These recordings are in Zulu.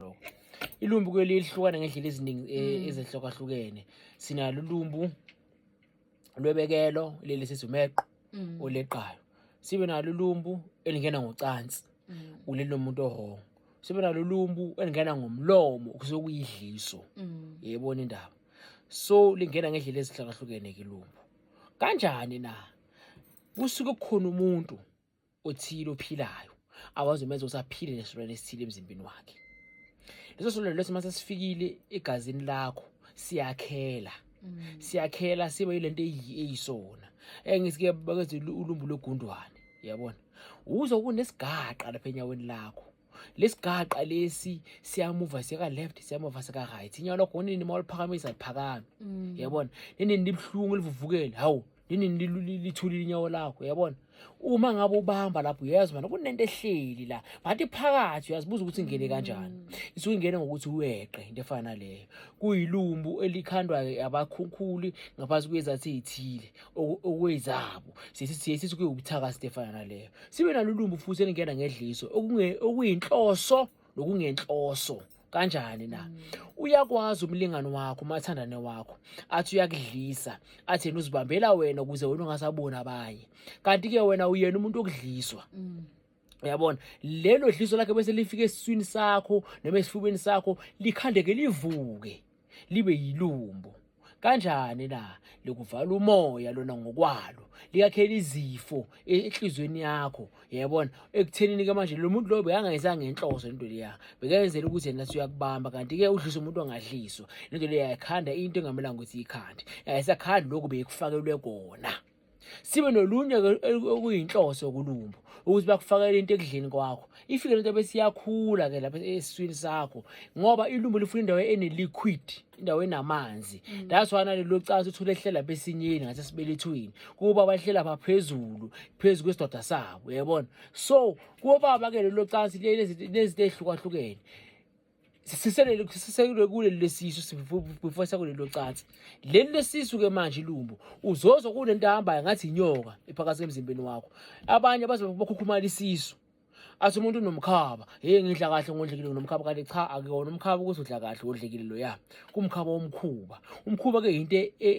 lo ilumbu kuyo lihlukana ngendlela eziningi eh, mm. ezehlukahlukene sinalo ulumbu lwebekelo leli sithi umeqo mm. oleqayo sibe nalo ulumbu elingena ngocansi mm. ulelo muntu ohongo sibe nalo ulumbu elingena ngomlomo kusokuyidliso yebona indaba so lingena ngendlela ezihlukahlukene ke lumbu kanjani na kusuke kukhona umuntu othile ophilayo akwazi umenza ukuthi aphile nesilwane esithile emzimbeni wakhe leso silwane leso mase sifikile egazini lakho siyakhela mm. siyakhela sibe yilento eyisona engisike bakenze ulumbu logundwane yabona uzo kunesigaqa lapha enyaweni lakho lesigaqa lesi siyamuva siyeka left siyamuva seka right inyawo lakho nini uma uliphakamisa liphakame mm. yabona nini libuhlungu livuvukele hawu nini lithulile inyawo lakho yabona uma ngabe ubamba lapho uyezwa manje kunento ehleli la but iphakathi uyazibuza ukuthi ingene kanjani mm. isuke ingene ngokuthi uweqe into efana naleyo kuyilumbu elikhandwa abakhunkhuli ngaphansi kwezathi ezithile okwezabo siye sithi kuyiwubuthaka into efana naleyo sibe nalulumbu futhi elingena ngedliso okuyinhloso nokungenhloso kanjani na mm. uyakwazi umlingani wakho umathandane wakho athi uyakudlisa athi yena uzibambela wena ukuze wena ungasaboni abanye kanti-ke wena uyena umuntu okudliswa mm. uyabona lelo dliso lakhe bese lifike esiswini sakho noma esifubeni sakho likhandeke livuke libe yilumbo kanjani na likuvala umoya lona ngokwalo liyakhela izifo e, enhlizweni yakho yayibona ekuthenini ke manje lo muntu loyo bekangayenzanga ngenhloso into leya bekayenzela ukuthi yena suyakubamba kanti-ke udlisa umuntu ongadliswa lento leyo yayikhanda into engamelanga ukuthi iyikhande yayisakhandi lokhu beyikufakelwe kona sibe nolunye okuyinhloso yokulumbo ukuthi bakufakele into ekudleni kwakho ifike lento bese iyakhula ke lapha esiswini sakho ngoba ilumbo lifuna indawo eneliquid indawo enamanzi mm. that's why nalelo cansi uthole ehlela besinyeni ngase sibelethweni kuba bahlela baphezulu phezulu kwesidoda sabo uyabona so kuba baba ke lelo cansi lezi lezi ehlukahlukene siselwe kuleli lesisu sifufusa kuleli locansi leli lesisu ke manje ilumbo uzozwa kunento ahambayo ngathi inyoka iphakathi emzimbeni wakho abanye baze bakhukhumala isisu athi umuntu unomkhaba hey ngidla kahle ngodlekile nginomkhaba kanti cha akuyona umkhaba ukuthi udla kahle wodlekile lo ya kumkhaba womkhuba umkhuba ke yinto e, e,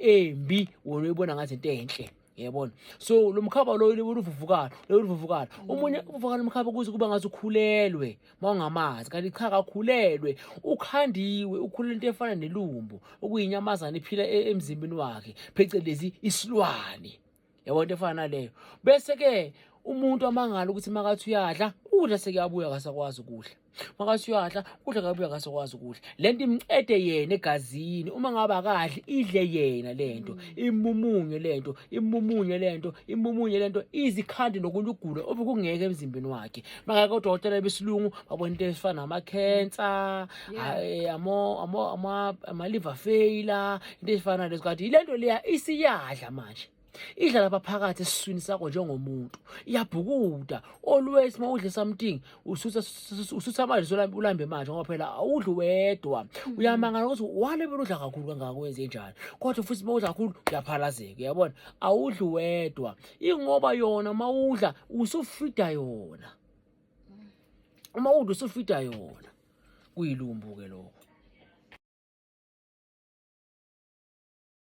e, embi wona uyibona ngathi into enhle yabona so lo mkhaba lo uluvuvukala uluvuvukala omunye uvuvukala umkhaba kuze kuba ngathi ukhulelwe mawungamazi kanti cha kakhulelwe ukhandiwe ukhulele into efana nelumbu okuyinyamazana iphila e-, emzimbeni wakhe phecelezi isilwane yabona into efana naleyo bese-ke umuntu amangala ukuthi makathi uyadla udla sekuyabuya kasakwazi ukudla makase uyadla kudla kabi uyakase kwazi ukudla le nto imcede yena egazini uma ngabe akadli idle yena le nto mm. imumunye le nto imumunye le nto imumunye le nto izikhandi nokunye ukugula obekungeke emzimbeni wakhe makake odokotela besilungu babona into ezifana namakhensa eh, ama-liver failure into ezifana lezo kanti yile nto leya isiyadla manje idlala abaphakathi esiswini sakho njengomuntu iyabhukuda always uma udle something usutha amanzi ulambe manje ngoba phela awudli wedwa mm. uyamangala ukuthi wale bela udla kakhulu kangaka wenze njani kodwa futhi uma udla kakhulu uyaphalazeka uyabona awudli wedwa ingoba yona uma udla usufida yona mm. uma udla usufida yona kuyilumbu-ke lokho